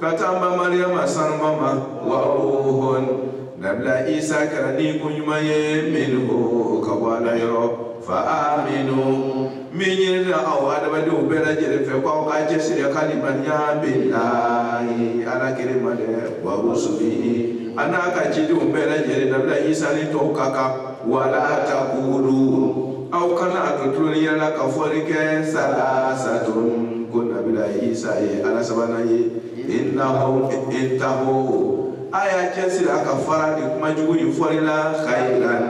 ka taa an ba mariyama sanuma ma wa ruhun nabila isa kɛra ni ko ɲuman ye minhu ka bɔ ala yɔrɔ fa aminu min ɲinina aw adamadenw bɛɛ lajɛlen fɛ ko aw k'a cɛsiri ka limaniya billahi ala kelen ma dɛ wa rusulihi a n'a ka cidenw bɛɛ lajɛlen nabila isa ni tɔw ka kan wala takulu aw kana a kɛ tuloniya la ka fɔli kɛ salasatun ko nabila isa ye ala sabanan ye innahu intahu a y'a cɛsiri a ka fara nin kuma jugu in fɔli la khairan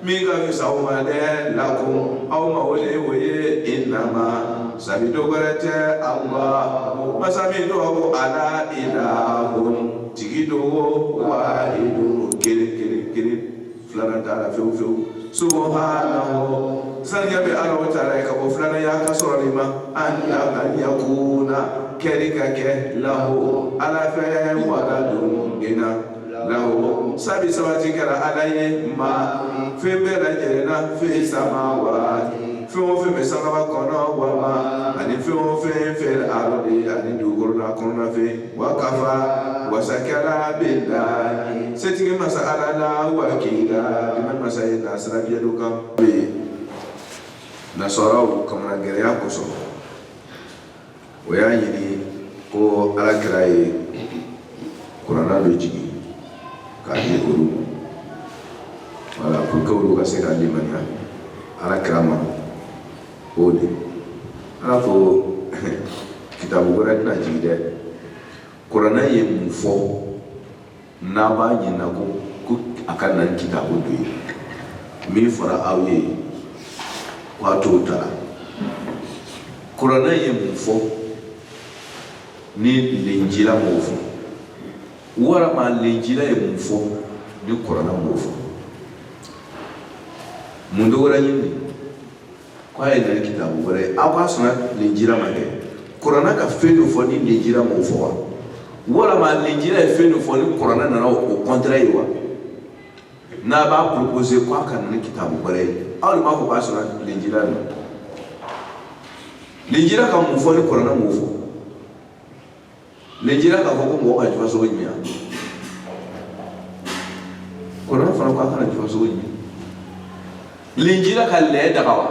min ka fisa aw ma dɛ lakum aw ma o de ye o ye innama sabi dɔ wɛrɛ tɛ allah masa min tɔgɔ ala ilahun tigi don o wahidun kelen kelen kelen filanan t'a la fewu fewu subhanahu saniya bɛ ala wa taala ye ka bɔ filananya ka sɔrɔ nin ma an na an yakuna kɛli ka kɛ lahu ala fɛ waladun den na lahu sabi sabati kɛra ala ye ma fɛn bɛɛ lajɛlen na fi samawati fɛn o fɛn bɛ sankaba kɔnɔ wa ma ani fɛn o fɛn fil ardi ani dugukolo la kɔnɔna fɛn wa kafa wasa kɛra billahi setigi masa ala la wakilan bima masa ye k'a sira diɲɛ dɔ kan bɛ ye nasaraw kamana gɛlɛya kosɔn u y'a ɲini ko ala kira ye kurana dɔ jigin k'a di olu wala pour que olu ka se ka limaniya ala kira ma o de ala ko kitabu wɛrɛ tɛna jigin dɛ kuranɛ ye mun fɔ n'a b'a ɲinina ko ko a ka na kitabu dɔ ye min fɔra aw ye k'a t'o ta la kuranɛ ye mun fɔ ni linjila m'o fɔ walama linjila ye mun fɔ ni kuranɛ m'o fɔ mun dɔ wɛrɛ ɲini k'a ye na ni kitabu wɛrɛ ye aw k'a sɔrɔ linjila ma kɛ kurana ka fɛn dɔ fɔ ni linjila m'o fɔ wa walama linjila ye fɛn dɔ fɔ ni kurana nana o kɔntɛrɛ ye wa n'a b'a propose k'a ka na ni kitabu wɛrɛ ye aw de b'a fɔ k'a sɔrɔ linjila nɔ linjila ka mun fɔ ni kurana m'o fɔ linjila k'a fɔ ko mɔgɔ ka jufa sogo ɲimi kurana fana ko a kana jufa sogo ɲimi linjila ka lɛ daga wa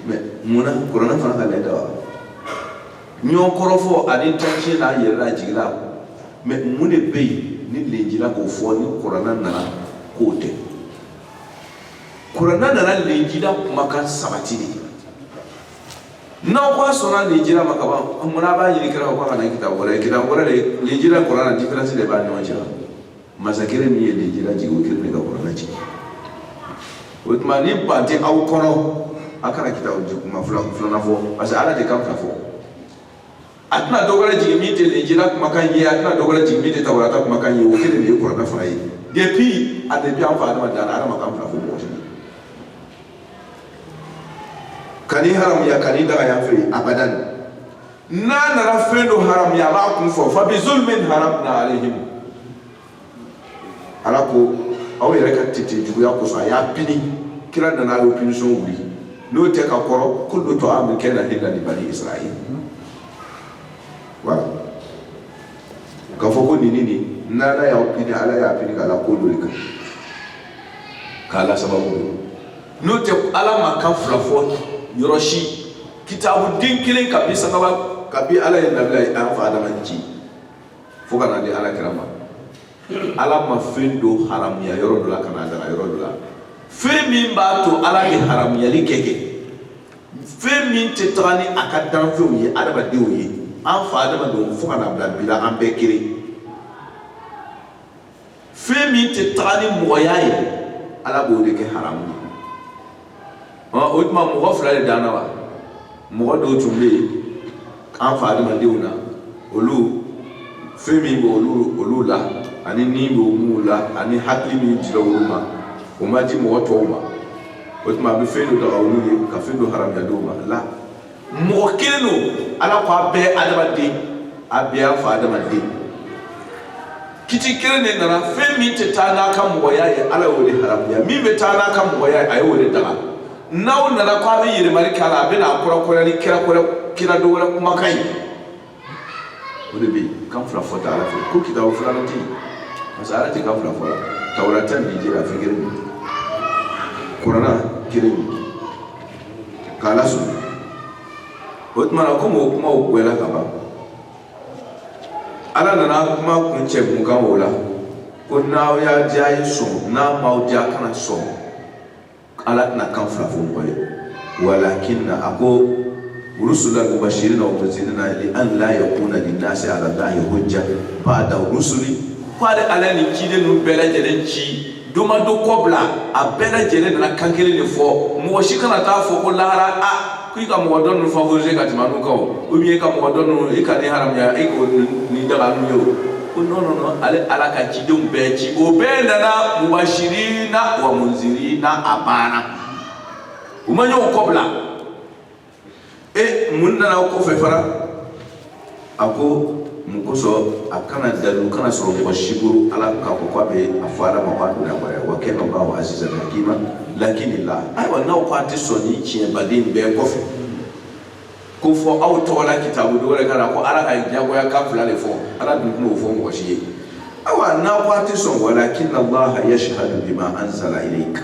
mɛ mun na kurana fana ka lɛ daga wa ɲɔgɔn kɔrɔfɔ ani tɔnci n'a yɛrɛlajigin la mɛ mun de bɛ yen ni linjila k'o fɔ ni kurana nana k'o tɛ kurana nana linjila kumakan sabati de n'aw ko a sɔnna linjila ma kaban mun na a b'a ɲini kira ko a ka na kitabu wɛrɛ ye kitabu wɛrɛ de linjila kurana diferansi de b'a ni ɲɔgɔn cɛ masa kelen min ye linjila jigin o kelen de ka kurana jigin o tuma ni ban tɛ aw kɔnɔ a kana kitabu kuma filanan fɔ parce que ala tɛ kan fila fɔ a tɛna dɔ wɛrɛ jigin min tɛ linjila kumakan ye a tɛna dɔ wɛrɛ jigin min tɛ tawurata kumakan ye o kelen de ye kuranɛ fana ye depuis a depuis an fa adama dara ala ma kan fila fɔ mɔgɔ si ka nin haramuya ka nin daga yan fɛ yen abadan n'a nana fɛn dɔ haramuya a b'a kun fɔ fa bi zulmin haramna alayhim ala ko aw yɛrɛ ka tete juguya kosɔn a y'a pini kira nana a y'o pinisɔn wuli n'o tɛ ka kɔrɔ ko dɔ to a min kɛ na ni lani bani israɛl voilà k'a fɔ ko nini ni n'ala y'aw pini ala y'a pini k'a la ko dɔ de kan k'a la sababu dɔ n'o tɛ ala ma kan fila fɔ yɔrɔ si kitabu den kelen kabi sangaba kabi ala ye nabilayi an fa adama ci fo ka na di ala kira ma ala ma fɛn dɔ haramuya yɔrɔ dɔ la ka n'a daga yɔrɔ dɔ la fɛn min b'a to ala bɛ haramuyali kɛ kɛ fɛn min tɛ taga ni a ka danfɛnw ye adamadenw ye an fa adamadenw fo ka na bila bi la an bɛɛ kelen fɛn min tɛ taga ni mɔgɔya ye ala b'o de kɛ haramu ye o tuma mɔgɔ fila de danna wa mɔgɔ dɔw tun bɛ yen an fa adamadenw na olu fɛn min bɛ olu la ani ni bɛ olu la ani hakili min dira olu ma o ma di mɔgɔ tɔw ma o tuma a bɛ fɛn dɔ daga olu ye ka fɛn dɔ haramuya dɔw ma la mɔgɔ kelen don ala ko a bɛɛ adamaden a bɛɛ y'an fa adamaden kiti kelen de nana fɛn min tɛ taa n'a ka mɔgɔya ye ala y'o de haramuya min bɛ taa n'a ka mɔgɔya ye a y'o de daga n'aw nana ko a bɛ yɛlɛmali k'a la a bɛ n'a kɔrɔkɔrɔ ni kira dɔ wɛrɛ kumakan ye o de bɛ yen kan fila fɔ tɛ ala fɛ ko kitabu filanan tɛ yen parce que ala tɛ kan fila fɔ la tawurata ni linjila fɛn kelen don kurana kelen don k'ala sɔn o tuma na komi o kumaw bɔla ka ban ala nana kuma kuncɛ kun kan o la ko n'a y'aw diya ye sɔn n'a m'aw diya kana sɔn ala tɛna kan fila fɔ mɔgɔ ye walakinna a ko rusulan mubashirina wa munzirina li an la yakuna linnasi alallahi hujja bada rusuli ko ale ala ye ciden ninnu bɛɛ lajɛlen ci dɔ ma dɔ kɔ bila a bɛɛ lajɛlen nana kan kelen de fɔ mɔgɔ si kana t'a fɔ ko lahara a ko i ka mɔgɔ dɔ ninnu favoriser ka tɛmɛ an'u kan o ou bien i ka mɔgɔ dɔ ninnu i ka nin haramuya i k'o nin daga n'u ye o ko non non non ale ala ka cidenw bɛɛ ci o bɛɛ nana mubashirina wa munzirina a banna u ma ɲɔgɔn kɔbila e mun nana o kɔfɛ fana a ko mun kosɔn a kana dalu kana sɔrɔ mɔgɔ si bolo ala k'a fɔ k'a bɛ a fɔ ala ma k'a donna wɛrɛ wa kɛ kan b'a azizan hakima lakinillah ayiwa n'aw k'a tɛ sɔn nin tiɲɛba nin bɛɛ kɔfɛ ko fo aw tɔgɔ la kitabu dɔ wɛrɛ ka na ko ala ka diyagoya kan fila de fɔ ala dun tɛna o fɔ mɔgɔ si ye ayiwa n'aw k'a tɛ sɔn walakinallah yashhadu bima anzala ilayka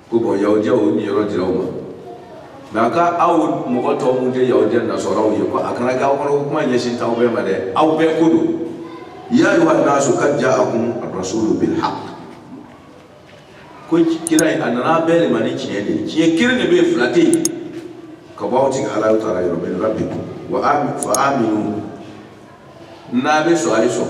ko bon yahudiyaw niyɔrɔ dira u ma mais a ko aw mɔgɔ tɔ minnu tɛ yahudiya nasaraw ye ko a kana kɛ aw kɔnɔ ko kuma ɲɛsin t'aw bɛɛ ma dɛ aw bɛɛ ko don ya ayuha nasu kad jaakum rasulu bilhaq ko kira a nana bɛɛ de ma ni tiɲɛ de ye tiɲɛ kelen de bɛ yen fila tɛ yen ka bɔ aw tigi ala taala yɔrɔ min rabbikum fa aminu n'a bɛ sɔn a ye sɔn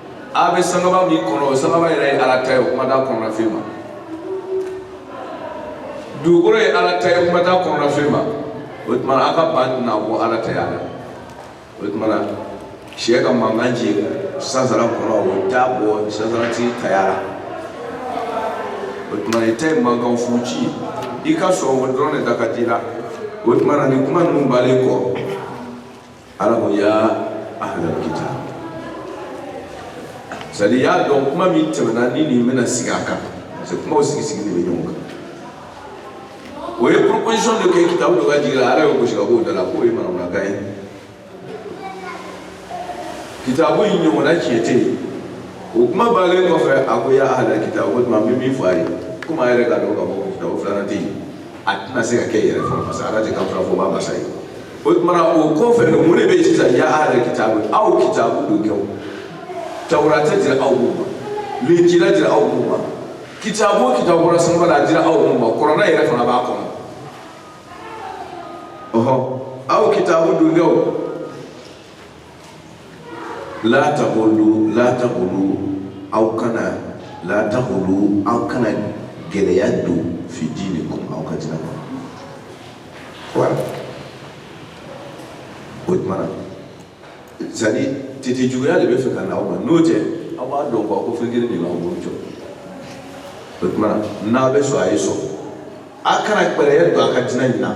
a bɛ sankaba min kɔnɔ o sankaba yɛrɛ ye ala ta ye o kuma t'a kɔnɔna fɛn ma dugukolo ye ala ta ye o kuma t'a kɔnɔna fɛn ma o tuma a ka ban tɛna bɔ ala taya la o tuma na sɛ ka mankan ci sansara kɔnɔ o t'a bɔ sansaratigi taya la o tuma na i ta ye mankan fu ci i ka sɔn o dɔrɔn de da ka di i la o tuma na nin kuma ninnu bannen kɔ Ala ko ya ahlal kitab c'est à dire y'a dɔn kuma min tɛmɛna ni nin bɛna sigi a kan parce que kumaw sigi sigi de bɛ ɲɔgɔn kan o ye proposition dɔ kɛ kitabu dɔ ka jigi la ala y'o gosi ka b'o da la k'o ye manamanakan ye kitabu in ɲɔgɔnna tiɲɛ tɛ yen o kuma bannen kɔfɛ a ko ya ahlal kitab o tuma n bɛ min fɔ a ye komi a yɛrɛ k'a dɔn ka fɔ ko kitabu filanan tɛ yen a tɛna se ka kɛ yɛrɛ fɔlɔ parce que ala tɛ kan fila fɔbaa masa ye o tumana o kɔfɛ no mun de bɛ yen sisan ya ahla kitabu aw kitabu don kɛw tawurata dira aw mun ma linjila dira aw mun ma kitabu o kitabu bɔra sanw la a dira aw mun ma kurana yɛrɛ fana b'a kɔnɔ ɔhɔ aw kitabu don kɛw la taglu la taglu aw kana la taglu aw kana gɛlɛya don fi diinikum aw ka diina kɔnɔ wala o tuma na c'est à dire tete juguya de bɛ fɛ ka na aw ma n'o tɛ aw b'a dɔn k'a ko fɛn kelen de b'aw bolo jɔ o tuma na n'a bɛ sɔn a ye sɔn a kana gɛlɛya don a ka diina in na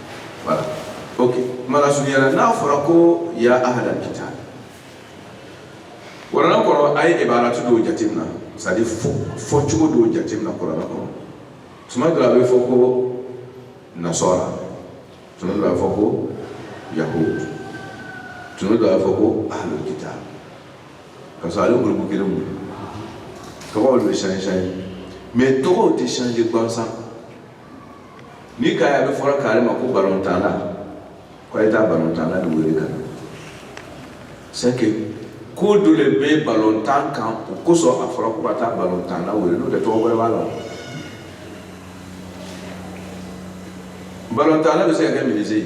Voilà. Ok. N b'a lasurunyana n'a fɔra ko ya ahla kitab. Kuranɛ kɔnɔ a ye ibaratu dɔw jateminɛ c'est à dire fɔ cogo dɔw jateminɛ kuranɛ kɔnɔ. Tuma dɔ la a bɛ fɔ ko nasɔra. Tuma dɔ la a bɛ fɔ ko yahud. Tuma dɔ la a bɛ fɔ ko ahlul kitab. Ka sɔrɔ ale groupe kelen mun. Tɔgɔw de bɛ changer changer. Mais tɔgɔw tɛ changer gansan. N'i k'a ye a bɛ fɔra kari ma ko balontanla k'a ye taa balontanla dɔ wele ka na c'est que ko dɔ de bɛ balontan kan o kosɔn a fɔra ko ka taa balontanla wele n'o tɛ tɔgɔ wɛrɛ b'a la balontanla bɛ se ka kɛ menuisier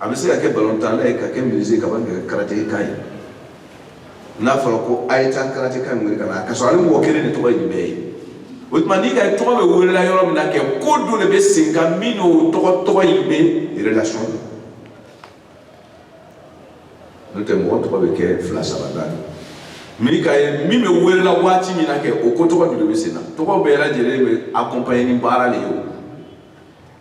a bɛ se ka kɛ balontanla ye ka kɛ menuisier ka ban ka kɛ karateka ye n'a fɔra ko a ye taa karateka wele ka na ka sɔrɔ ale mɔgɔ kelen de tɔgɔ ye bɛɛ ye o tuma n'i ka tɔgɔ bɛ welela yɔrɔ min na kɛ ko dɔ de bɛ sen kan min n'o tɔgɔ tɔgɔ in bɛ relation na n'o tɛ mɔgɔ tɔgɔ bɛ kɛ fila saba naani min ka ye min bɛ welela waati min na kɛ o ko tɔgɔ de bɛ sen na tɔgɔ bɛɛ lajɛlen bɛ accompagner ni baara de ye o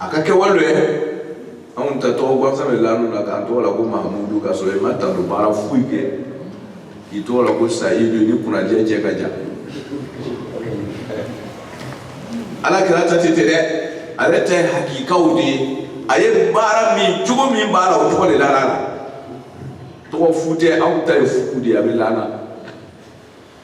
a ka kɛwale anw ta tɔgɔ gansan bɛ la anw na k'an tɔgɔ la ko mahamudu ka sɔrɔ i ma tando baara foyi kɛ k'i tɔgɔ la ko sayidu ni kunnajɛ cɛ ka jan ala kira ta tɛ ten dɛ ale ta ye hakikaw de ye a ye baara min cogo min b'a la o tɔgɔ de la la tɔgɔ fu tɛ anw ta ye fu de ye a bɛ la an na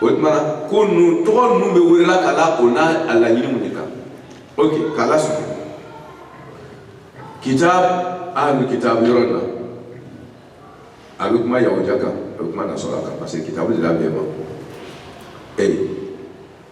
o tuma na ko ninnu tɔgɔ ninnu bɛ welela ka la o n'a a laɲini mun de kan ok k'a lasusu kitab ahlu kitab yɔrɔ in na a bɛ kuma yahudiya kan a bɛ kuma nasɔra kan parce que kitabu dila bɛɛ ma ee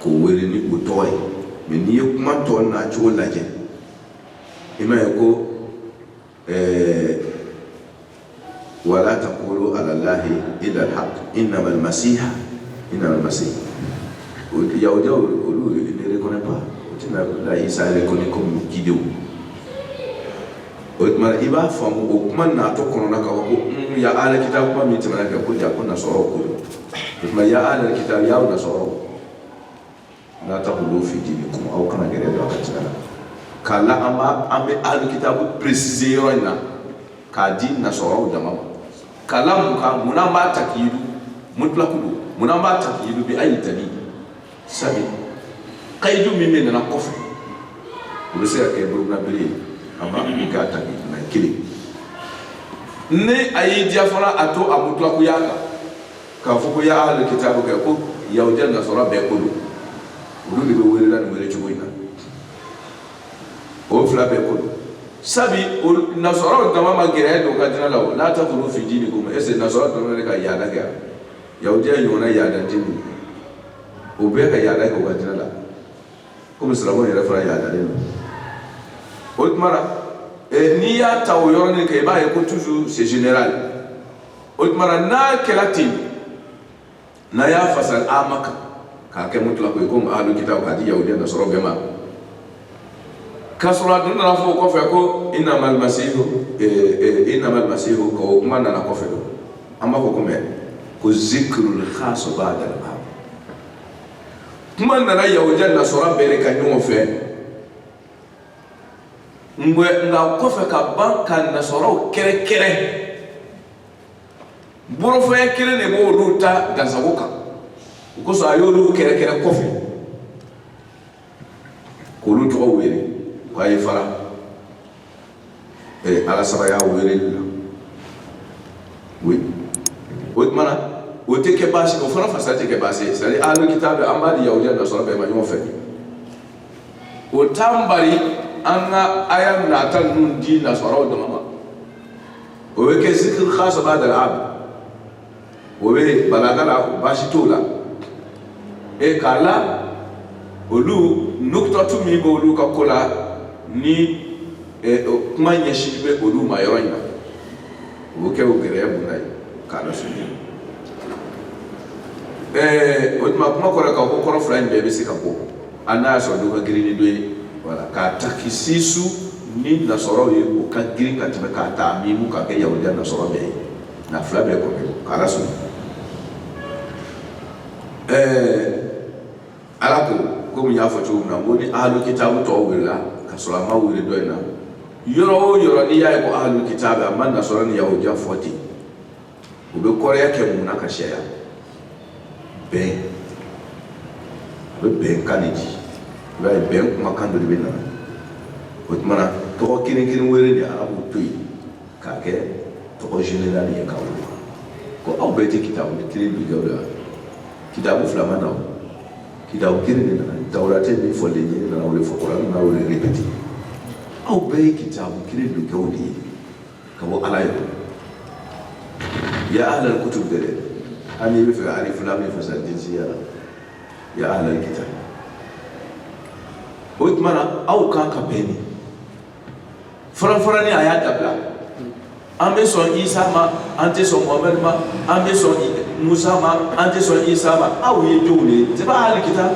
k'o wele ni o tɔgɔ ye mais n'i ye kuma tɔ nacogo lajɛ i b'a ye ko wala takulu alallahi illal hak innamal masihu yahud olu ne reconnaît pas o tɛ nabila isa reconnaît comme ciden o tuma i b'a faamu o kuma natɔ kɔnɔna ka ko ya ahla kitab kuma min tɛmɛna kɛ ko jaa ko nasɔrɔ o tuma ya ahla kitab ya aw nasɔrɔw la taghlu fi dinikum aw kana gɛrɛ don a ka cɛ la k'a la an b'a an bɛ ahla kitab préciser yɔrɔ in na k'a di nasɔrɔw jama ma k'a la mun kan mun na an b'a takyidu mutlaku lo mun na an b'a takyidu bi ayi dalil sabu kayidu min bɛ nana kɔfɛ o bɛ se ka kɛ burukinabe ye a ma min k'a ta mɛ kelen ni a y'i diya fana a to a mutulakuya kan k'a fɔ ko ya ahali kitabu kɛ ko yahudiya nasɔrɔ bɛɛ ko don olu de bɛ welela nin wele cogo in na o fila bɛɛ ko don sabi nasɔrɔ dama ma gɛrɛ don ka dina la o la tagulu fi dinikum est ce que nasɔrɔ dama de ka yaada kɛ yahudiya ɲɔgɔnna yaada tɛ mun o bɛɛ ka yaada kɛ u ka diinɛ la komi silamɛw yɛrɛ fana yaadalen don o tuma la eh, n'i y'a ta o yɔrɔnin kan i b'a ye ko toujours c'est général o tuma la n'a kɛra ten n'a y'a fasari ama kan k'a kɛ mutlaku ye komi ahlu kitabu k'a di yahudiya nasɔrɔ bɛɛ ma Ka sɔrɔ a dun nana fɔ o kɔfɛ ko innamal masihu kuma nana kɔfɛ don an b'a fɔ komi ko zikirul xasu baadal am kuma nana yahudiya nasɔrɔ bɛɛ ka ɲɔgɔn fɛ n nka kɔfɛ ka ban ka nasɔrɔw kɛrɛnkɛrɛn bɔrafɔya kelen de b' olu ta dansagon kan o kosɔn a y'olu kɛrɛnkɛrɛn kɔfɛ k'olu tɔgɔ wele k'a ye fara ee ala sabaya wele la o tuma na o tɛ kɛ baasi o fana fasa tɛ kɛ baasi ye sabi ahalu kitabu an b'a di yahudiya nasɔrɔ bɛɛ ma ɲɔgɔn fɛ o t'an bali an ka aya nata ninnu di nasɔrɔw dama ma o bɛ kɛ zikiri xasu baadal am o bɛ balaga la o baasi t'o la e k'a la olu nukutatu min bɛ olu ka ko la ni e, kuma ɲɛsin bɛ olu ma yɔrɔ in na o bɛ kɛ o gɛrɛya bonya ye k'a lasurunya ɛɛ o tuma kuma kɔrɔ k'a ko kɔrɔ fila in bɛɛ bɛ se ka bɔ hali n'a y'a sɔrɔ dɔ ka girin ni dɔ ye voilà k'a takisisu ni nasɔrɔw ye o ka girin ka tɛmɛ k'a taamimu k'a kɛ yahudiya nasɔrɔ bɛɛ ye na fila bɛɛ kɔfɛ ala sɔn ɛɛ ala ko komi n y'a fɔ cogo min na ko ni ahalu kitabu tɔgɔ welela ka sɔrɔ a ma wele dɔ in na yɔrɔ o yɔrɔ n'i y'a ye ko ahalu kitabu a ma nasɔrɔ ni yahudiya fɔ ten u bɛ kɔrɔya kɛ mun na ka sariya bɛn a bɛ bɛnkan de di i b'a ye bɛn kumakan dɔ de bɛ na o tuma na tɔgɔ kelen kelen wele de arabu to yen k'a kɛ tɔgɔ général ye k'a wele ko aw bɛɛ tɛ kitabu kelen bilaw la kitabu fila ma na o kitabu kelen de nana tawurate min fɔlen ye nana o de fɔ kuran nana o de répété aw bɛɛ ye kitabu kelen bilaw de ye ka bɔ ala yɛrɛ ya ahlal kutub tɛ dɛ hali n'i bɛ fɛ ka alif lam min fasari jinsiya la ya ahlal kitab o tuma na aw kan ka bɛn ni farafarani a y'a dabila an bɛ sɔn isa ma an tɛ sɔn mohamɛdi ma an bɛ sɔn musa ma an tɛ sɔn isa ma aw ye jɔnw de ye c'est pas ahlul kitab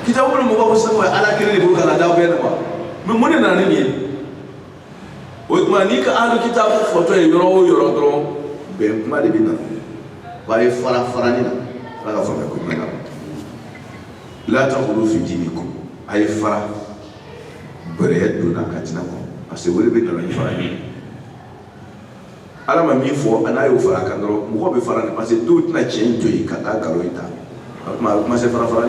kitabu mɔgɔw ko sɛbɛn ala kelen de b'o ka na d'a bɛɛ de ma mais mun de nana ni nin ye o tuma n'i ka ahlul kitab fɔtɔ ye yɔrɔ o yɔrɔ dɔrɔn bɛn kuma de bɛ na wa a ye fara farani na ala ka faamuya ko ɲuman na la taghlu fi dinikum a ye fara bɛrɛ donna ka diina kɔnɔ parce que o de bɛna na ni fara ye ala ma min fɔ n'a y'o fara kan dɔrɔn mɔgɔ bɛ fara parce que dɔw tɛna tiɲɛ in to yen ka taa nkalon in ta o tuma a bɛ commencer fara fara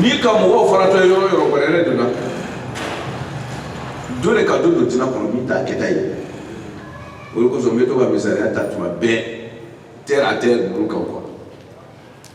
n'i ka mɔgɔw faratɔ ye yɔrɔ yɔrɔ bɛrɛ donna dɔ de ka dɔ don diina kɔnɔ min t'a kɛta ye o de kosɔn n bɛ to ka misaliya ta tuma bɛɛ terre à terre ninnu kan quoi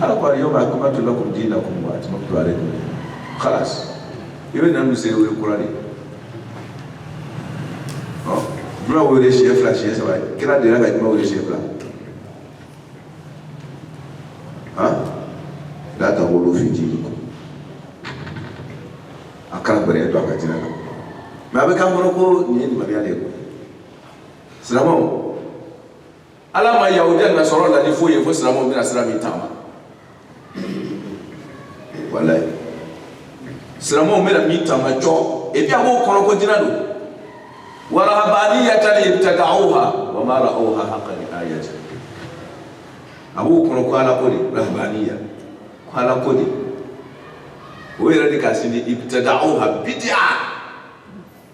ala ko alyawma akmaltu lakum dinakum wa atmamtu alaykum khalas i bɛ na nu se o kura de ɔ juma wele siɲɛ fila siɲɛ saba kira delila ka juma wele siɲɛ fila han la taghlu fi dinikum a kana bɛrɛ don a ka diina la mais a b'an kɔnɔ ko nin ye limaniya de ye ko silamɛw ala ma yahudiya nasara laadi foyi ye fo silamɛw bɛna sira min taama walayi silamɛw bɛna min taama cɔ et puis a b'o kɔnɔ ko diina don wa rahabaniyatan ibtada'uha wa ma ra'awha haqqa ri'ayati a b'o kɔnɔ ko ala ko de rahabaniya ko ala ko de o yɛrɛ de k'a sindi ibtada'uha bid'a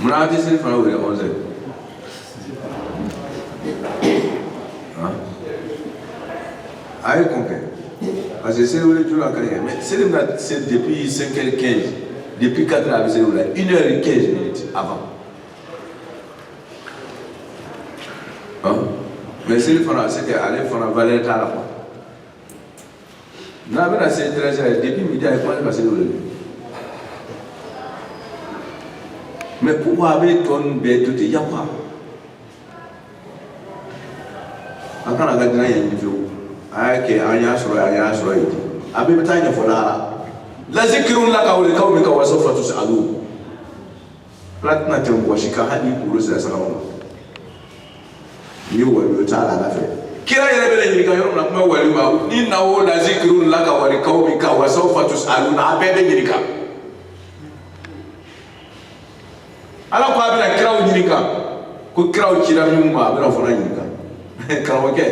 mun na an tɛ selifana wele onze heures han a ye kun kɛ parce que seli wele joona ka di kɛ mais seli bɛna se depuis cinq heures quinze depuis quatre heures a bɛ seli wele une heure et quinze minutes avant han mais selifana c'est que ale fana valeur t'a la quoi. n'a bɛna se treize heures depuis midi a ye kuma ne ma se n'o ye mais pourquoi a bɛ tɔ ninnu bɛɛ to ten yafa a kana ka dina yen fiyewu a y'a kɛ an y'a sɔrɔ an y'a sɔrɔ yen a bɛɛ bɛ taa ɲɛfɔ lahara la zikrun laka wa liqawmika wa sawfa tusalu Platina tɛ mɔgɔ si kan hali n'i kunkolo sera san ma n'i ye wali o t'a la ala fɛ kira yɛrɛ bɛ ɲininka yɔrɔ min na kuma wali ma innahu la zikrun laka wa liqawmika wa sawfa tusaluna a bɛɛ bɛ ɲininka ala ko a bɛna kiraw ɲininka ko kiraw cira min ma a bɛna fana ɲininka karamɔgɔkɛ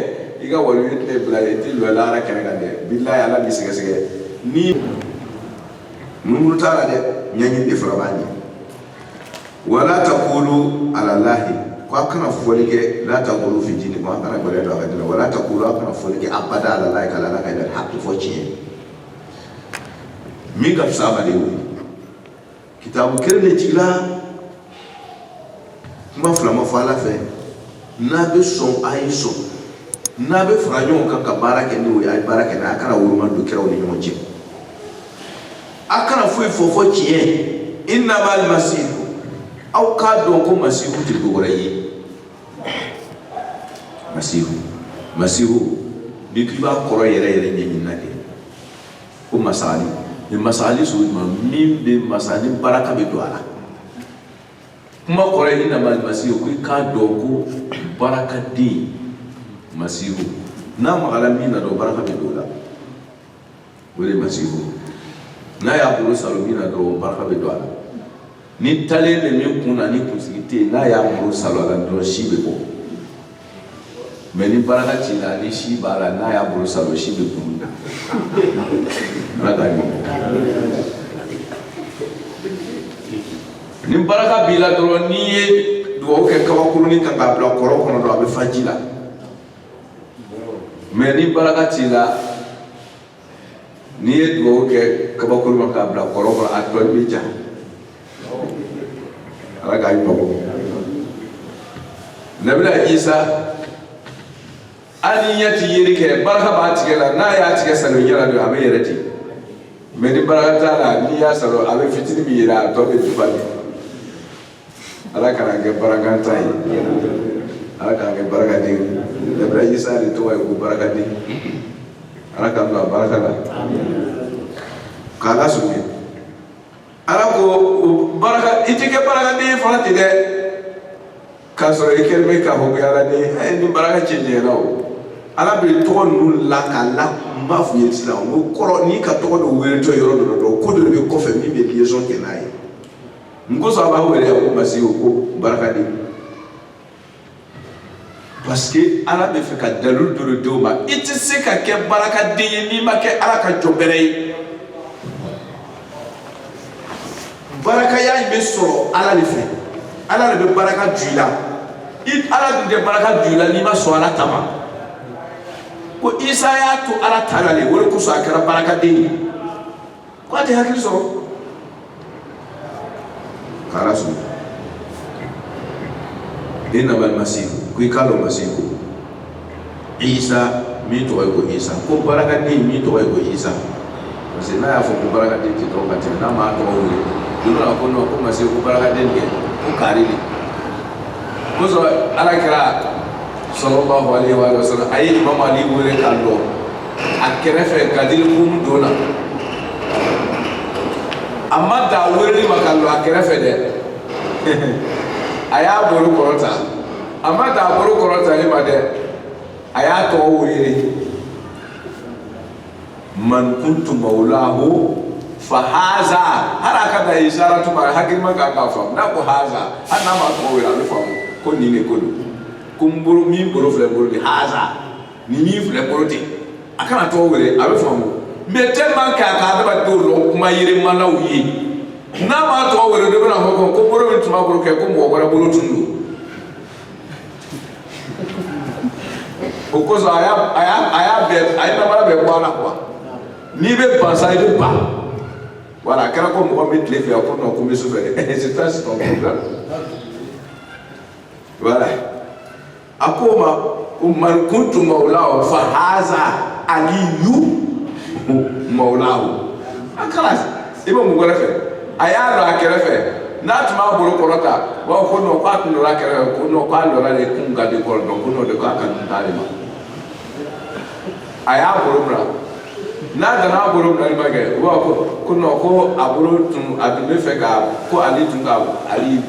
i ka wali tɛ bila i tɛ lɔ lahara kɛnɛ kan dɛ bilahi ala b'i sɛgɛsɛgɛ ni munumunu t'a la dɛ ɲɛɲini de fɔlɔ b'a ɲɛ wala taqulu alalahi ko a kana fɔli kɛ la taghlu fi dinikum a kana gbɛrɛ don a ka dina wala taqulu a kana fɔli kɛ abada alalahi ka ala kan illal haqqi fɔ tiɲɛ min ka fisa ma de wuli kitabu kelen de jigila kuma fila ma fɔ ala fɛ n'a bɛ sɔn a ye sɔn n'a bɛ fara ɲɔgɔn kan ka baara kɛ n'o ye a ye baara kɛ nka a kana woloma don kiraw ni ɲɔgɔn cɛ a kana foyi fɔ fɔ tiɲɛ innamal masihu aw k'a dɔn ko masihu tɛ dɔ wɛrɛ ye masihu masihu n'i k'i b'a kɔrɔ yɛrɛ yɛrɛ ɲɛɲini na kɛ ko masali nin masali sugu jumɛn min bɛ masali baraka bɛ don a la kuma kɔrɔ ye innamal masihu ko i k'a dɔn ko barakaden masihu n'a magala min na dɔrɔn baraka bɛ don o la o de ye masihu n'a y'a bolo salo min na dɔrɔn baraka bɛ don a la ni talen de min kun na ni kunsigi tɛ yen n'a y'a bolo salo a la dɔrɔn si bɛ bɔ mais ni baraka t'i la ni si b'a la n'a y'a bolo salo si bɛ kun na ala ka ɲɔgɔn ni baraka b'i la dɔrɔn n'i ye dugawu kɛ kabakurunin kan k'a bila kɔlɔn kɔnɔ dɔrɔn a bɛ fa ji la mais ni baraka t'i la n'i ye dugawu kɛ kabakuru ma k'a bila kɔlɔn kɔnɔ a tɔ nin bɛ ja ala k'a ɲɔ bɔ nabila isa hali ɲɛ tɛ yeli kɛ barika b'a tigɛ la n'a y'a tigɛ salo ɲɛ la dɔrɔn a bɛ yɛlɛ ten mais ni barika t'a la n'i y'a salo a bɛ fitini min yɛrɛ a tɔ bɛ duba de ala kan'an kɛ barakantan ye ala k'an kɛ barakaden nabila isa de tɔgɔ ye ko barakaden ala ka bila baraka la k'ala sugu ala ko baraka i tɛ kɛ barakaden fana ten dɛ k'a sɔrɔ i kɛlen bɛ k'a fɔ ko ala ni a ye nin baraka cɛ jɛra o ala bɛ tɔgɔ ninnu la k'a la n b'a f'u ye sisan o kɔrɔ n'i ka tɔgɔ dɔ weele tɔ yɔrɔ dɔ la dɔrɔn ko dɔ de bɛ kɔfɛ min bɛ liaison kɛ n'a ye Mun kosɔn a b'a wele ko Masihu ko barakaden. Parce que ala bɛ fɛ ka dalilu dɔ de d'o ma i tɛ se ka kɛ barakaden ye n'i ma kɛ ala ka jɔn bɛrɛ ye barakaya in bɛ sɔrɔ ala de fɛ ala de bɛ baraka don i la i ala dun tɛ baraka don i la n'i ma sɔn ala ta ma ko isa y'a to ala ta la de o de kosɔn a kɛra barakaden ye Ko a tɛ hakili sɔrɔ k'Ala sɔn innamal Masihu ko i k'a dɔn Masihu ko Isa min tɔgɔ ye ko Isa ko barakaden min tɔgɔ ye ko Isa parce que n'a y'a fɔ ko barakaden ten dɔrɔn ka tɛmɛ n'a m'a tɔgɔ wele don dɔ la ko non ko Masihu ko barakaden kɛ ko kaari de o kosɔn Ala kira salalahu alehi wa salama a ye Imamu Ali wele k'a lɔ a kɛrɛfɛ gadir kumu don na a ma dan a weleli ma k'a lɔ a kɛrɛfɛ dɛ a y'a bolo kɔrɔta a ma dan a bolo kɔrɔtali ma dɛ a y'a tɔgɔ wele man kuntu mawlahu fa haza hali a ka dan isaratu ma hakilima ka kan k'a faamu n'a ko haza hali n'a ma tɔgɔ wele a bɛ faamu ko nin de ko don ko n bolo min bolo filɛ n bolo de haza nin min filɛ n bolo ten a kana tɔgɔ wele a bɛ faamu mais tellement que a ka adamadenw dɔn kuma yɛlɛmalaw ye n'a m'a tɔgɔ wele dɔ bɛna fɔ ko ko bolo min tun b'a bolo kɛ ko mɔgɔ wɛrɛ bolo tun don o kosɔn a y'a a y'a a y'a bɛɛ a ye namara bɛɛ bɔ a la quoi n'i bɛ ban sa i bɛ ban voilà a kɛra ko mɔgɔ min tile fɛ a ko non ko n bɛ su fɛ dɛ c'est ça c'est ton problème voilà. a ko a ma man kuntu mawlahu fa haza aliyu mawlahu a kalas i bɛ mun wɛrɛ fɛ a y'a lɔ a kɛrɛfɛ n'a tun m'a bolo kɔrɔta u b'a fɔ ko non k'a tun lɔra a kɛrɛfɛ ko non k'a lɔra de kun ka di kɔrɔ dɔrɔn ko non de k'a kan dun t'ali ma a y'a bolo mina n'a dana bolo minani ma kɛ u b'a ko ko non ko a bolo tun a tun bɛ fɛ ka ko ali tun ka ali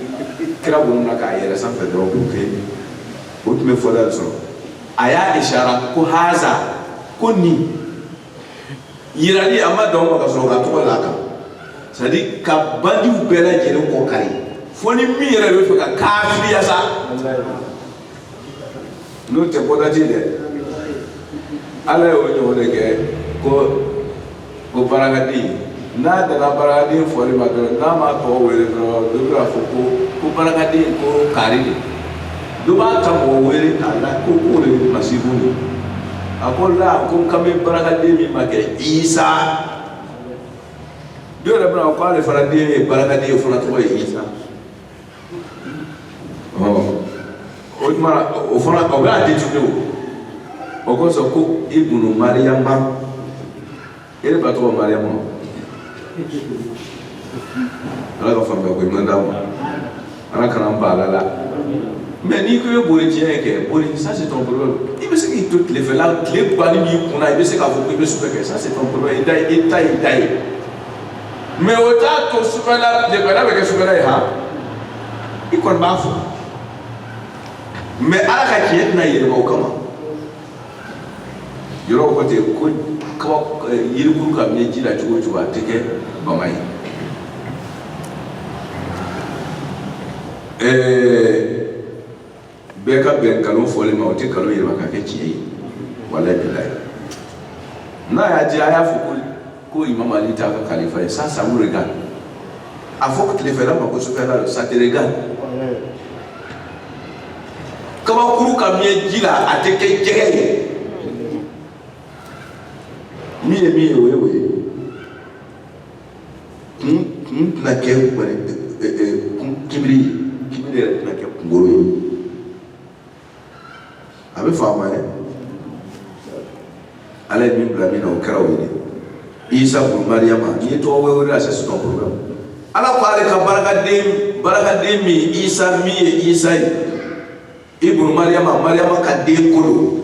kira bolo mina k'a yɛlɛn sanfɛ dɔrɔn k'o kɛ o tun bɛ fɔda sɔrɔ a y'a isara ko haza ko nin yirali a ma dan o ma ka sɔrɔ ka tɔgɔ la a kan c'est à dire ka bandiw bɛɛ lajɛlen kɔ kari fo ni min yɛrɛ b'a fɛ ka kafiriya sa n'o tɛ bɔdaji dɛ ala y'o ɲɔgɔn de kɛ ko ko barakaden n'a dana barakaden fɔli ma dɔrɔn n'a ma tɔgɔ wele dɔrɔn dɔ bɛn'a fɔ ko ko barakaden ko kari de dɔ b'a ta mɔgɔ wɛrɛ k'a la ko k'o de ye masihu ye a ko ala ko n kan bɛ barakaden min ma kɛ isa dɔ yɛrɛ bɛna ko ale fana den ye barakaden ye o fana tɔgɔ ye isa o tuma na o fana o bɛ a détourné o o kosɔn ko ibunu mariyama e de ba tɔgɔ mariyama ala ka faamuya ko ɲuman d'an ma ala kana an bali a la mɛ n'i ko i bɛ boli tiɲɛ kɛ boli ça c'est ton problème i bɛ se k'i to tilefɛla tileba nin b'i kunna i bɛ se k'a fɔ ko i bɛ sufɛ kɛ ça c'est ton problème i da i ta y'i da ye mɛ o t'a to sufɛla tilefɛla bɛ kɛ sufɛla ye han i kɔni b'a fɔ mɛ ala ka tiɲɛ tɛna yɛlɛma o kama yɔrɔ ko ten ko kaba yirikuru ka mɛn ji la cogo o cogo a tɛ kɛ bama ye ɛɛ bɛɛ ka bɛn nkalon fɔli ma o tɛ nkalon yɛlɛma ka kɛ tiɲɛ ye walayi bilayi n'a y'a diya a y'a fɔ ko ko imam ali t'a ka kalifa ye ça ça vous regarde a fɔ tilefɛla ma ko sufɛla don ça te regarde kabakuru ka mɛn ji la a tɛ kɛ jɛgɛ ye min ye min ye o ye o ye kun kun tɛna kɛ wari kunbiri kunbiri yɛrɛ tɛna kɛ kunkolo ye a bɛ faamuya ala ye min bila min na o kɛra o ye isa bun mariyama n'i ye tɔgɔ wɛrɛ wele ça c'est ton problème ala ko ale ka barakaden barakaden min isa min ye isa ye ibnu mariama mariama ka denkɛ don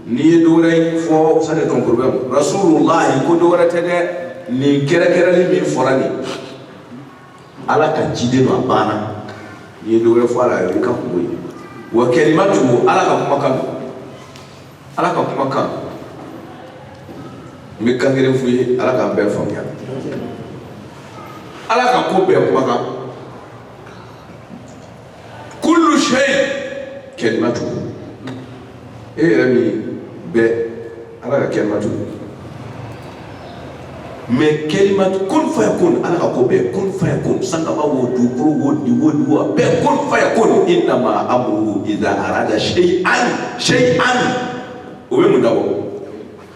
n'i ye dɔ wɛrɛ fɔ ça c'est ton problème rasulullahi ko dɔ wɛrɛ tɛ dɛ nin kɛrɛkɛrɛli min fɔra nin ala ka ciden don a banna n'i ye dɔ wɛrɛ fɔ a la i ka kunko ye wa kalimatu ala ka kumakan don ala ka kumakan n bɛ kan kelen f'u ye ala k'an bɛɛ faamuya ala ka ko bɛɛ kumakan kullu shay kalimatu e yɛrɛ min bɛ ala ka kalimatu mɛ kalimatu kun fayakun ala ka ko bɛɛ kun fayakun sankaba wo dugukolo wo di wo di wo a bɛɛ kun fayakun innama amruhu iza arada shay'an o bɛ mun dabɔ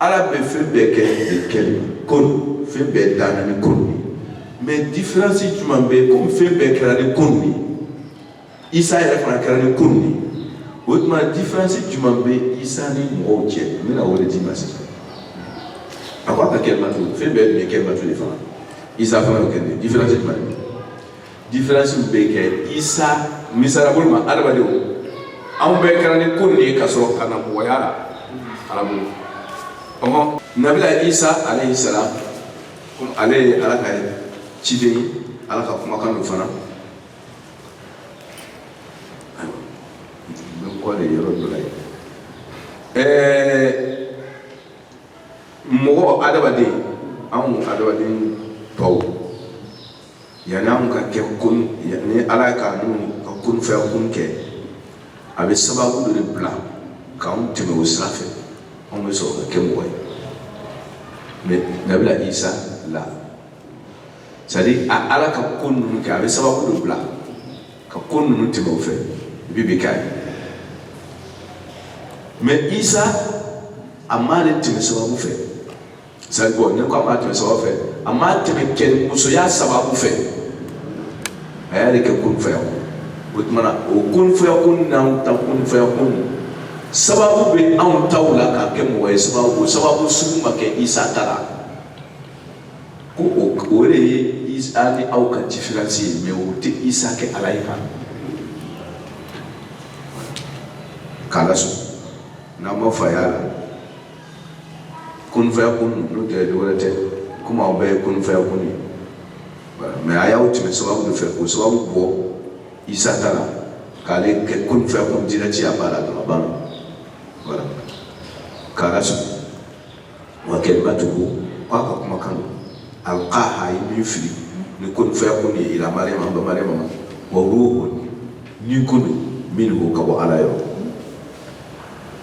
ala bɛ fɛn bɛɛ kɛ de kɛ kun fɛn bɛɛ danna ni kun ye mɛ difiransi jumɛn bɛ komi fɛn bɛɛ kɛra ni kun ye isa yɛrɛ fana kɛra ni kun ye o tuma difiransi jumɛn bɛ isa ni mɔgɔw cɛ n bɛna o le d'i ma sisan a ko a ka kalimatu fɛn bɛɛ bɛ kalimatu de fana isa fana y'o kɛ difiransi jumɛn Difiransiw bɛ kɛ isa misali bolo ma adamadenw anw bɛɛ kɛra ni kun de ye ka sɔrɔ ka na mɔgɔya la arabu ɔ nabila isa alayhi salam ale ye ala ka ciden ye ala ka kumakan don fana donc o de yɔrɔ dɔ la ye ɛɛ mɔgɔ adamaden anw adamaden tɔw Yani anw ka kɛ ni ala ye ka ka kun fayakun kɛ a bɛ sababu de bila k'an tɛmɛ o sira fɛ anw bɛ sɔrɔ ka kɛ mɔgɔ ye mɛ nabila isa la sani ala ka ko ninnu kɛ a bɛ sababu de bila ka ko ninnu tɛmɛ o fɛ i bɛ k'a ye mɛ isa a m'ale tɛmɛ sababu fɛ c'est bon ne ko a m'ale tɛmɛ sababu fɛ a m'ale tɛmɛ cɛ ni musoya sababu fɛ a y'ale kɛ kun fayakun o tuma na o kun fayakun n'an ta kun fayakun sababu bɛ anw taw la k'a kɛ mɔgɔ ye sababu o sababu sugu ma kɛ isa ta la ko o o de ye isa ni aw ka diferansi ye mɛ o tɛ isa kɛ ala ye kan k'a lasɔn n'an ma fa y'a la. kun fayakun n'o tɛ dɔwɛrɛ tɛ komi aw bɛɛ ye kun fayakun ye mɛ a y'aw tɛmɛ sababu de fɛ k'o sababu bɔ isa ta la k'ale kɛ kun fayakun dirɛki a ba la dɔrɔn a banna voilà khalas wa kalimatuhu k'a ka kumakan don alqaha ye min fili ni kun fayakun de ye ila mariama ba mariama ma wa ruhun ni kun don minhu ka bɔ ala yɔrɔ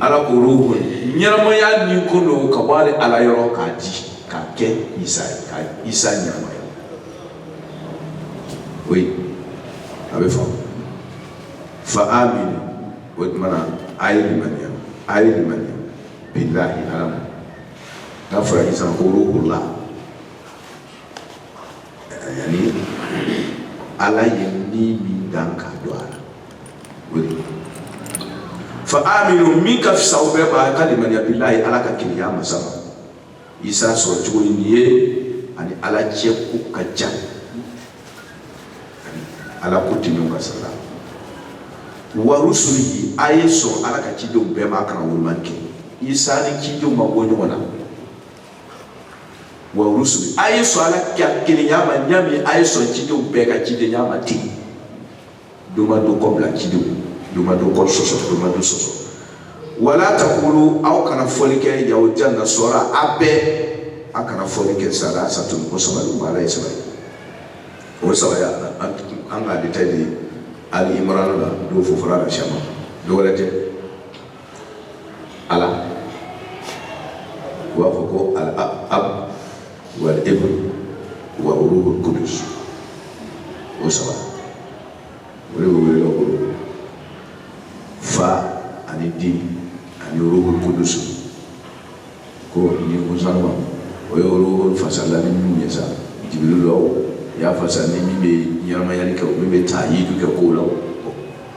ala ko ruhu ɲɛnamaya ni ko don ka bɔ ale ala yɔrɔ k'a di k'a kɛ isa ye ka isa ɲɛnamaya o ye a bɛ faamu fa aminu o tuma na a ye limaniya a ye limaniya bilahi ala ma n'a fɔra isa ko ruhullah yani ala ye ni min dan k'a fa aminu min ka fisa aw bɛɛ ma ka limaniya bilahi ala ka kelenya masa ma isa sɔrɔ cogo ye nin ye ani ala cɛ ko ka jan ani ala ko tɛmɛn ka sara wa rusulihi a ye sɔn ala ka cidenw bɛɛ ma kana wolomani kɛ isa ni cidenw ma bɔ ɲɔgɔn na wa rusuli a ye sɔn ala ka kelenya ma ɲa min a ye sɔn cidenw bɛɛ ka cidenya ma ten dɔ ma dɔ kɔ bila cidenw dɔ ma dɔ kɔ sɔsɔ dɔ ma dɔ sɔsɔ wala takulu aw kana fɔli kɛ yahudiya nasara a bɛɛ a kana fɔli kɛ salasatu ko saba de ma ala ye saba de o sabaya an k'a détaillé ali imran la do fofara la shama dɔ wɛrɛ tɛ ala u b'a fɔ ko al ab wal ibn wa ruhul qudus o saba o de bɛ wele ka bolo fa ani den ani ruhul qudus ko ni sanuman o ye ruhul fasala ni min ye sa jibril la o y'a fasa ni min bɛ ɲɛnamayali kɛ o min bɛ tayidu kɛ kow la o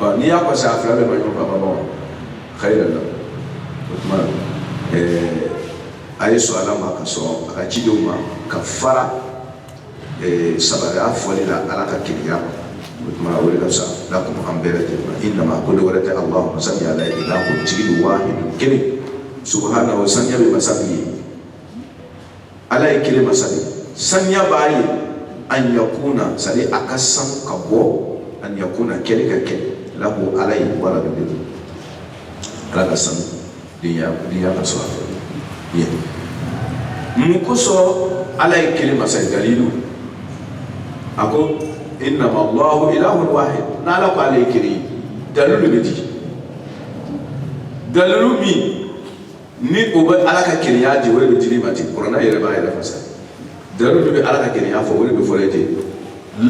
Ɔ n'i y'a kɔsi a fila bɛ ma ɲɔgɔn baba bɔ khayran o tuma a ye sɔn ala ma ka sɔn a ka cidenw ma ka fara sabaya fɔli la ala ka kelenya ma o tuma o de ka fisa lakum an bɛɛ lajɛlen ma innama ko dɔ wɛrɛ tɛ allahu masa ala ye ilahun ko tigi wahid kelen subhanahu saniya bɛ masa ye ala ye kelen masa de saniya b'a ye an yakuna sadi a ka sanu ka bɔ an yakuna kɛli ka kɛ lahu ala ye waladun ala ka sanu denya denya ka sɔrɔ a fɛ ye mun kosɔn ala ye kelen masa ye dalilu a ko innama allahu ilahun wahid n'ala ko ala ye kelen ye dalilu bɛ di dalilu min ni o bɛ ala ka kelenya di o de bɛ di ma ten kurana yɛrɛ b'a yɛrɛ fasa dalilu de bɛ ala ka kelenya fɔ o de bɛ fɔlɔ ten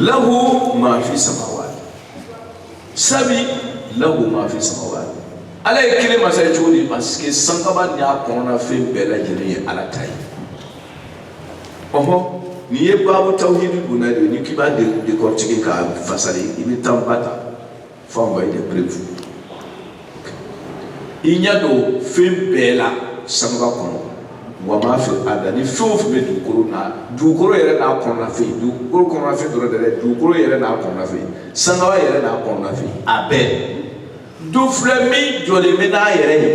lahu maa fi samawati sabi lahu maa fi samawati ala ye kelen masa ye cogo di parce que sankaba ni a kɔnɔna fɛn bɛɛ lajɛlen ye ala ta ye ɔhɔn n'i ye baabu tawhidi donna de n'i k'i b'a décortiquer k'a fasali i bɛ tanba ta Fo anw ka i de prevu i ɲɛ don fɛn bɛɛ la sangaba kɔnɔ wa ma fil ardi ani fɛn o fɛn bɛ dugukolo na dugukolo yɛrɛ n'a kɔnɔna fɛn dugukolo kɔnɔna fɛn dɔrɔn tɛ dɛ dugukolo yɛrɛ n'a kɔnɔna fɛn sangaba yɛrɛ n'a kɔnɔna fɛn a bɛɛ dɔ filɛ min jɔlen bɛ n'a yɛrɛ ye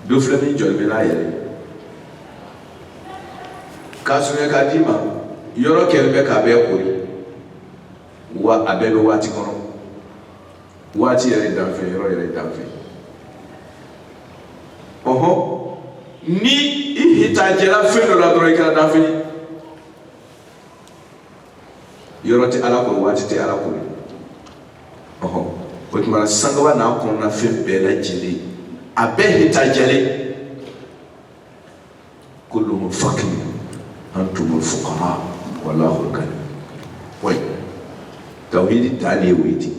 dɔ filɛ min jɔlen bɛ n'a yɛrɛ k'a surunya k'a d'i ma yɔrɔ kɛlen bɛ k'a bɛɛ kori wa a bɛɛ bɛ waati kɔnɔ waati yɛrɛ ye danfɛn ye yɔrɔ yɛrɛ ye danfɛn ye ɔhɔn ni i hitajɛra fɛn dɔ la dɔrɔn i kɛra danfɛn ye yɔrɔ tɛ ala kori waati tɛ ala kori ɔhɔ o tuma sangaba n'a kɔnɔna fɛn bɛɛ lajɛlen a bɛɛ hitajɛlen kulluhum fakiri antumul fukara wallahu ghani wa tawhidi dan de ye o ye ten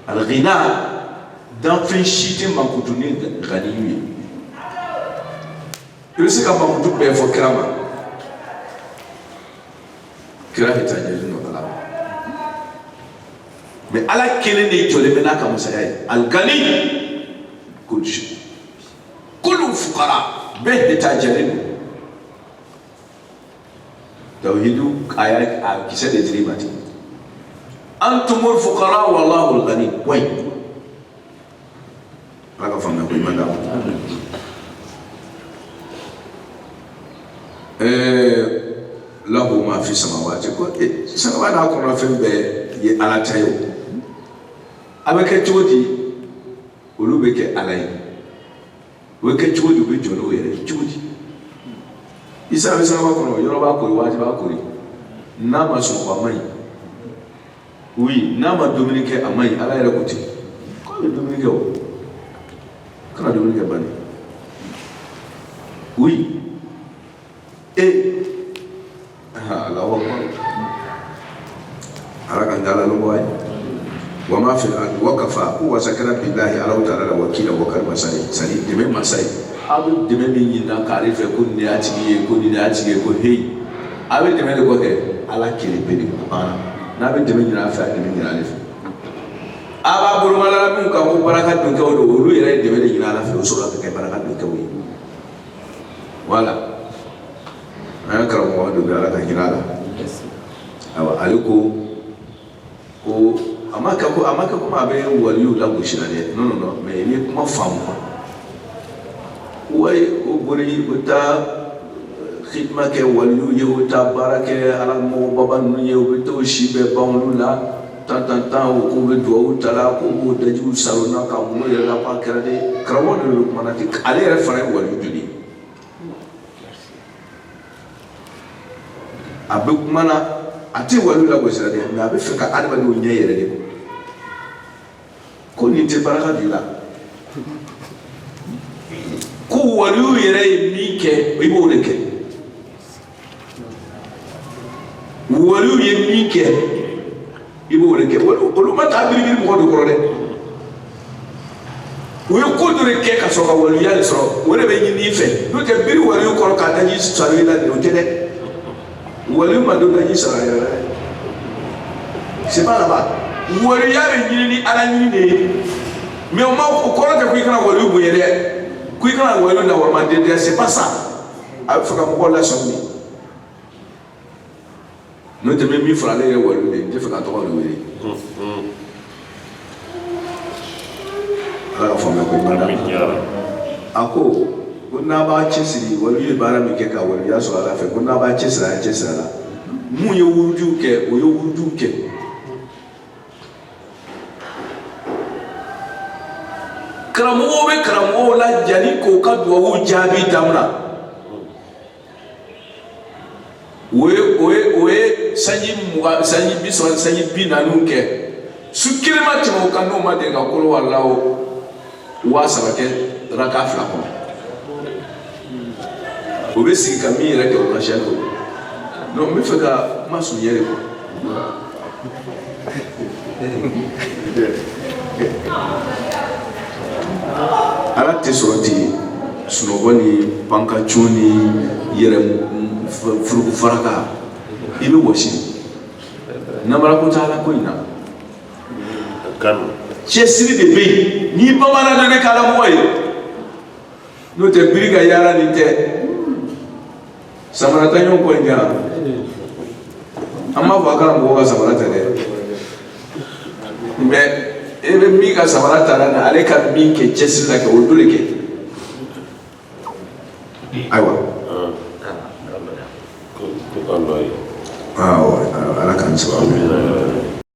alghina danfɛn si tɛ mankutu ni ganiyu ye i bɛ se ka mankutu bɛɛ fɔ kira ma kira hitajɛlen don ala mais ala kelen de jɔlen bɛ n'a ka masaya ye alghani kullu fukara bɛɛ hitajɛlen don tawhidu aya kisɛ de dir'i ma ten antumul fukara wallahul ghani wayi ala ka faamuya ko ɲuman d'an ma ɛɛ lahu ma fi samawati ko sangaba n'a kɔnɔ fɛn bɛɛ ye ala ta ye o a bɛ kɛ cogo di olu bɛ kɛ ala ye o bɛ kɛ cogo di u bɛ jɔ n'o yɛrɛ ye cogo di isa bɛ sangaba kɔnɔ yɔrɔ b'a kori waati b'a kori n'a ma sunɔgɔ a man ɲi oui n'a ma dumuni kɛ a man ɲi ala yɛrɛ ko ten k'a bɛ dumuni kɛ o kana dumuni kɛ bani oui et Allahu akbar ala ka dala nɔgɔya wa ma fil ardi wa kafa ko wasa kɛra billahi ala taala la wakila wakali masa ye sani dɛmɛ masa ye aw bɛ dɛmɛ min ɲinina k'ale fɛ ko nin y'a tigi ye ko nin y'a tigi ye ko heyi a bɛ dɛmɛ de ko kɛ ala kelen pe de ko banna n'a bɛ dɛmɛ ɲin'a fɛ a dɛmɛ ɲini ale fɛ a b'a bolomalala min kan ko baraka donkɛw don olu yɛrɛ ye dɛmɛ de ɲini ala fɛ o sɔrɔ ka kɛ baraka donkɛw ye wala an ye karamɔgɔ dɔ bɛ ala ka hinɛ a la ayiwa ale ko ko a ma kɛ ko a ma kɛ komi a bɛ waliw lagosi la dɛ non non non mais n'i ye kuma faamu quoi wayi o boli o taa xidima kɛ waliw ye o taa baara kɛ ala mɔgɔbaba ninnu ye o bɛ t'o si bɛɛ ban olu la tan tan tan o k'u bɛ duwawu ta la k'u b'o dajiw saron na ka mun yɛrɛ la k'a kɛra de karamɔgɔ de don kuma na ten ale yɛrɛ fana ye waliw joli ye a bɛ kuma na a tɛ waliw lagosi la dɛ mais a bɛ fɛ ka adamadenw ɲɛ yɛrɛ de ko nin tɛ baraka d'i la ko waliw yɛrɛ ye min kɛ i b'o de kɛ waliw ye min kɛ i b'o de kɛ olu ma taa biribiri mɔgɔ de kɔrɔ dɛ u ye ko dɔ de kɛ ka sɔrɔ ka waliya de sɔrɔ o de bɛ ɲini i fɛ n'o tɛ biri waliw kɔrɔ k'a daji saron i la de o tɛ dɛ waliw ma don daji saron a yɛrɛ la dɛ c'est pas là-bas waliya bɛ ɲini ni ala ɲini de ye mais o ma o kɔrɔ tɛ ko i kana waliw bonya dɛ ko i kana waliw lawalema den dɛ c'est pas ça a bɛ fɛ ka mɔgɔw lasɔmi de n'o tɛ min fɔra ale yɛrɛ waliw de n tɛ fɛ k'a tɔgɔ de wele ala ka faamuya ko ɲuman d'a a ko ko n'a b'a cɛsiri waliw ye baara min kɛ ka waliya sɔrɔ ala fɛ ko n'a b'a cɛsiri a y'a cɛsiri a la mun ye wurudiw kɛ o ye wurudiw kɛ karamɔgɔw bɛ karamɔgɔw la jani k'u ka duwawu jaabi damina o ye o ye o ye sanji mugan sanji bi saba sanji bi naaniw kɛ su kelen ma tɛmɛ o kan n'o ma deli ka kul huwallahu waa saba kɛ raka fila kɔnɔ o bɛ sigi ka min yɛrɛ kɛ o la siyɛn kɔnɔ donc n bɛ fɛ ka kuma surunya de quoi ala tɛ sɔrɔ ten sunɔgɔ ni pan ka cun ni yɛrɛ furuku faraka i bɛ wɔsi namara ko t'ala ko in na cɛsiri de bɛ yen ni bamban n'a bɛ k'ala mɔgɔ ye n'o tɛ biri ka yaala nin tɛ samara ta ɲɔgɔn kɔ in kɛra an m'a fɔ a kana mɔgɔw ka samara ta dɛ mais e bɛ min ka samara ta la na ale ka min kɛ cɛsiri la kɛ o dɔ le kɛ ayiwa ala k'an sababu